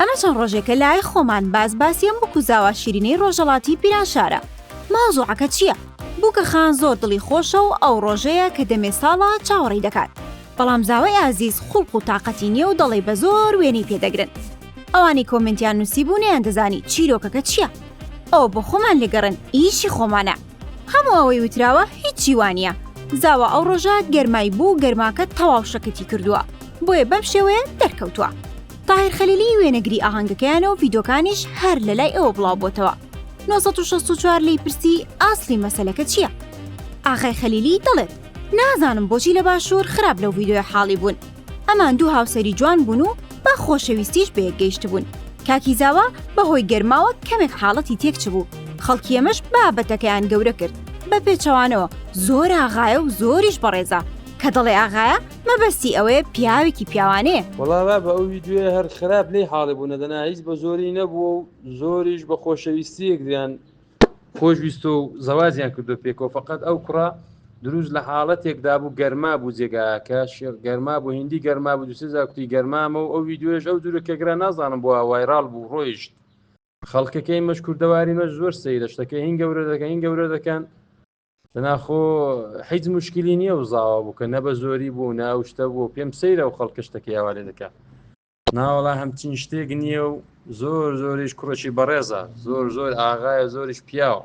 ئەمە چەند ڕۆژێکە لای خۆمان باس باسی ئەم بکو زاوا شیرینەی ڕۆژەڵاتی پیرانشارە. مەوزوعەکە چییە؟ بووکە خان زۆر دڵی خۆشە و ئەو ڕۆژەیە کە دەمێ ساڵە چاوەڕێی دەکات. بەڵام زاوای ئازیز خوڵق و تاقەتی نییە و دەڵێ بە زۆر وێنەی پێ دەگرن. ئەوانەی کۆمێنتیان نووسیبوو نەیاندەزانی چیرۆکەکە چییە. ئەوە بۆ خۆمان لێگەڕێن ئیشی خۆمانە. هەموو ئەوەی وتراوە هیچی وانە زاوا ئەو ڕۆژە گەرمای بوو گەرماکە تەواو شەکەتی کردووە بۆیە بەم شێوەیە دەرکەوتووە تاهر خەلیلی وێنەگری ئاهەنگەکەیان و ڤیدۆکانیش هەر لە لای ئەوە بڵاو بۆتەوە 1964 لی پرسی ئاسلی مەسلەکە چییە؟ ئاغای خەلیلی دەڵێت نازانم بۆچی لە باشوور خراپ لەو ڤیدۆیە حاڵی بوون ئەمان دوو هاوسەری جوان بوون و بە خۆشەویستیش بەیەک گەیشتبوون کاکی زاوا بەهۆی گەرماوە کەمێک حاڵەتی تێکچبوو خەڵکی ئەمەش بابەتەکەیان گەورە کرد بە پێچەوانەوە زۆر ئاغایە و زۆریش بەڕێزە کە دەڵێ ئاغایە مەبەستی ئەوەیە پیاوێکی پیاوانەیە. وەڵا بابە ئەو ڤیدیۆیە هەر خراپ لێی حاڵی بوونە دەنا هیچ بە زۆری نەبووە و زۆریش بە خۆشەویستیەک دەیان خۆشویستۆ و زەواجیان کردو پێکەوە فقط ئەو کوڕە دروست لە حاڵەتێکدا بوو گەرما بوو جێگاکە شێخ گەرما بوو هندی گەرما بوو دوسێ زاکوتی گەرمامە و ئەو ویددیوێش ئەو جورە کەگرا نازانم بووە وایرال بوو ڕۆیشت خەڵکەکەی مەش کوردەواری مەش زۆر سەیرە شتەکە هین گەورە دەکەن هین گەورە دەکەن دەناخۆ حیج مشکلی نییە و زاوا بوو کە نە بە زۆری بوو ناوشتە بوو پێم سەیرە و خەڵکە شتەکەیاوالێ دەکە ناوەڵا هەمچین شتێک نییە و زۆر زۆریش کوڕێکی بەڕێزە زۆر زۆر ئاغایە زۆریش پیاوە